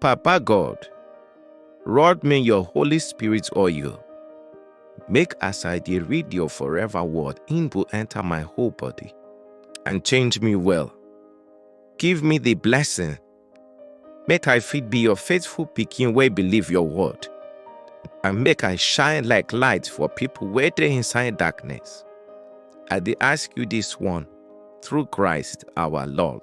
Papa God, rod me your Holy Spirit oil. Make as I dey read your forever word, im go enter my whole body and change me well. Give me the blessing, make I fit be your faithful pikin wey believe your word, and make I shine like light for people wey dey inside darkness. I dey ask you this one through Christ our Lord.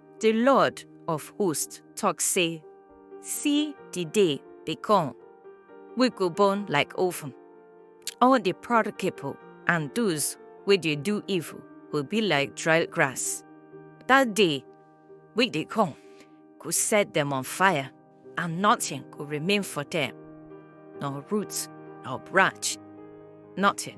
Di Lord of host tok sey, Si di day dey kom wey go burn like oven, all di proud pipol and doz wey dey do evil go bi like dry grass. Dat day wey dey kom go set dem on fire and notin go remain for dem, nor root nor branch, notin.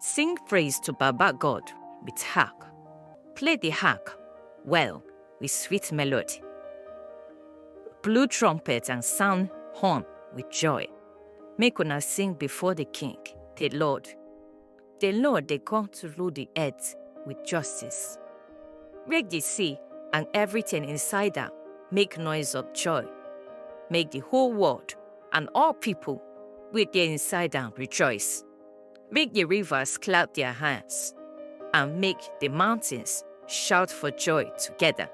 Sing praise to Baba God with harp. Play the harp well with sweet melody. Blow trumpet and sound horn with joy. Make una sing before the King, the Lord. The Lord dey come to rule the earth with justice. Make the sea and everything inside am make noise of joy. Make the whole world and all people wey dey inside am rejoice. Make the rivers clap their hands, and make the mountains shout for joy together.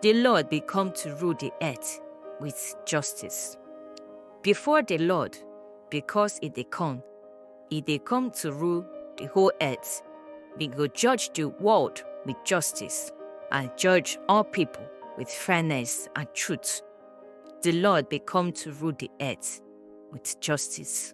The Lord be come to rule the earth with justice. Before the Lord, because it dey come, it dey come to rule the whole earth. We go judge the world with justice and judge all people with fairness and truth. The Lord be come to rule the earth with justice.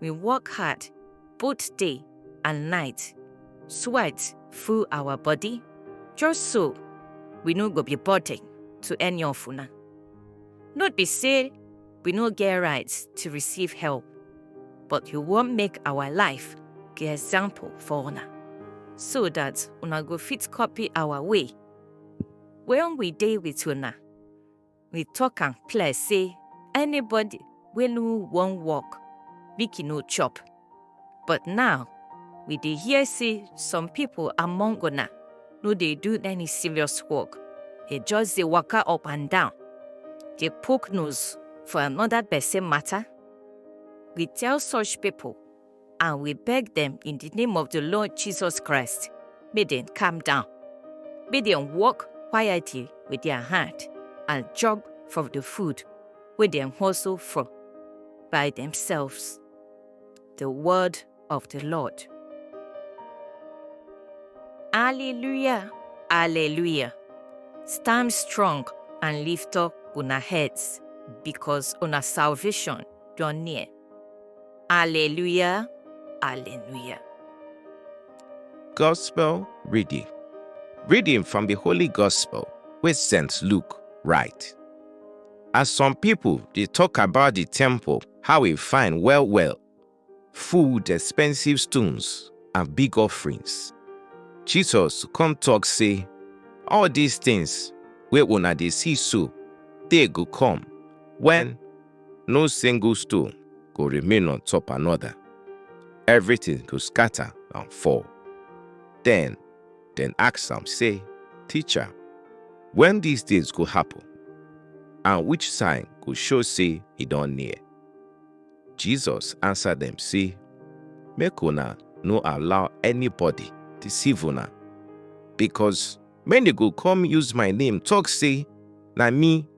we work hard both day and night, sweat full our body, just so we no go be burden to any of una. Not be say we no get rights to receive help, but you wan make our life be example for una, so that una go fit copy our way when we dey with una. we talk am clear say anybody wey no wan work make e no chop but now we dey hear say some people among una no dey do any serious work e just dey waka up and down dey poke nose for another person matter we tell such people and we beg dem in the name of the Lord Jesus Christ, may dem calm down. May dem walk quietly with their hand and chop from the food wey dem hustle for by themselves. The word of the Lord. Alleluia, Alleluia. Stand strong and lift up una heads, because una salvation draw near. Alleluia, Alleluia. Gospel reading. Reading from the Holy Gospel with St. Luke write. As some people they talk about the temple, how it fine well well, food, expensive stones, and big offerings. Jesus come talk say, all these things where una they see so, they go come when No single stone go remain on top another. Everything go scatter and fall. Then, then ask am say, Teacher, when these things go happen? And which sign go show say e don near? Jesus answer them say, Make una no allow anybody deceive una, because many go come use my name talk say, Na me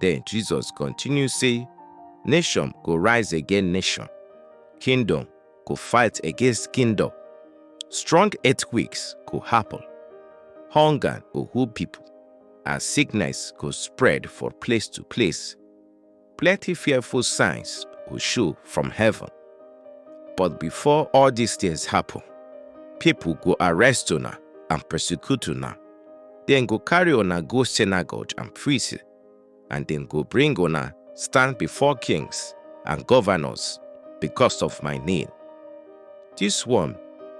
Then Jesus continue say, Nation go rise against nation, kingdom go fight against kingdom, strong earthquakes go happen, hunger go hold people, and sickness go spread for place to place. Plenty fearful signs go show from heaven. But before all these things happen, people go arrest una and persecute una Dem go carry una go synagogue and prison, and dem go bring una stand before kings and governors because of my name. This one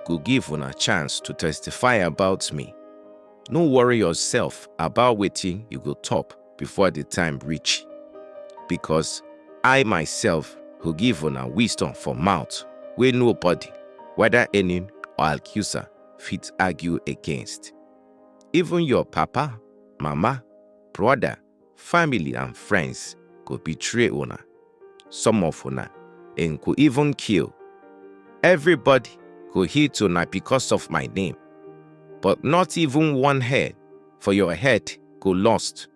go give una chance to testify about me. No worry yourself about wetin you go talk before the time reach, because I myself go give una wisdom for mouth wey nobody, whether enemy or accuser, fit argue against. Even your papa, mama, brother, family and friends go betray una. Some of una and go even kill. Everybody go hate una because of my name, but not even one hair for your head go lost.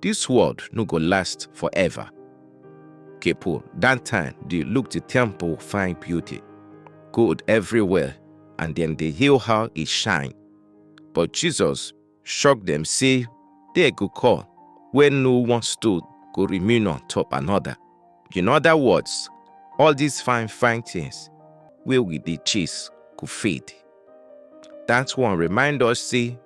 This world no go last forever. Kepo, that time they look the temple fine beauty, gold everywhere, and then they hail how it shine. But Jesus shocked them, say, they go call, where no one stood go remain on top another. In other words, all these fine fine things where we dey chase go fade. That one remind us say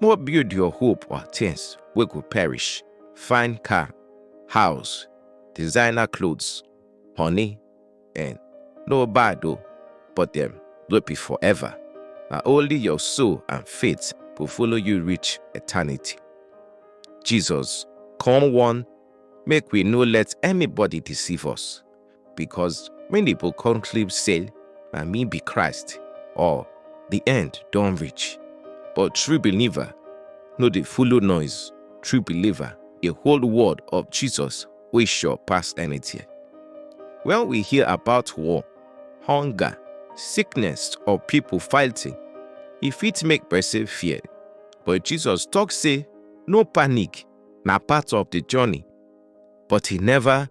No build your hope on things wey go perish, fine car, house, designer clothes, honey, and no bad o, but dem no be forever. Na only your soul and faith go follow you reach eternity. Jesus come warn make we no let anybody deceive us. because many people conclude say na me be Christ or the end don reach. But true believer no dey follow noise. True believer dey hold word of Jesus wey sure pass anything. When we hear about war, hunger, sickness or people fighting, e fit make person fear. But Jesus talk say no panic na part of the journey but he never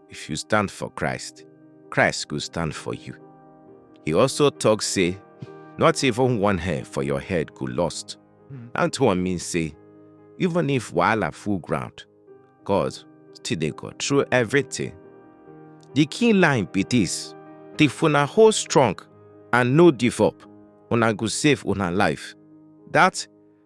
if you stand for Christ, Christ go stand for you. He also talk say, not even one hair for your head go lost. Mm. And to mean say, even if wahala full ground, God still they go through everything. The key line be this, the funa hold strong and no give up, una go save una life. That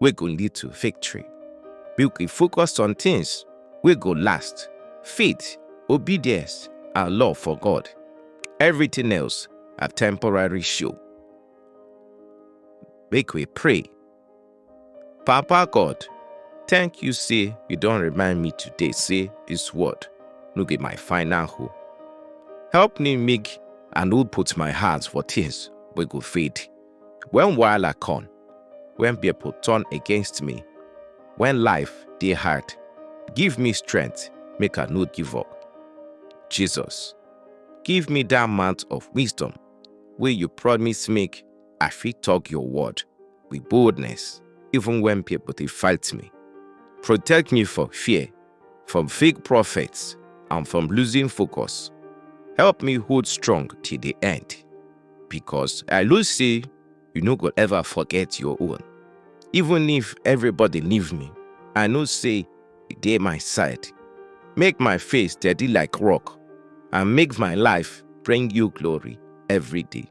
wey go lead to victory. Make we focus on things wey go last, faith, obedience, and love for God. Everything else na temporary show. Make we pray. Papa God, thank you say you don remind me today say this word no be my final hope. Help me make I no put my heart for things wey go fade. When wahala come, when people turn against me, when life dey hard, give me strength make I no give up. Jesus, give me that amount of wisdom wey you promise make I fit talk your word with boldness even when people dey fight me. Protect me from fear from fake prophets, and from losing focus. Help me hold strong till the end, because I know say you no go ever forget your own. Even if everybody leave me, I know say you dey my side. Make my face steady like rock, and make my life bring you glory every day.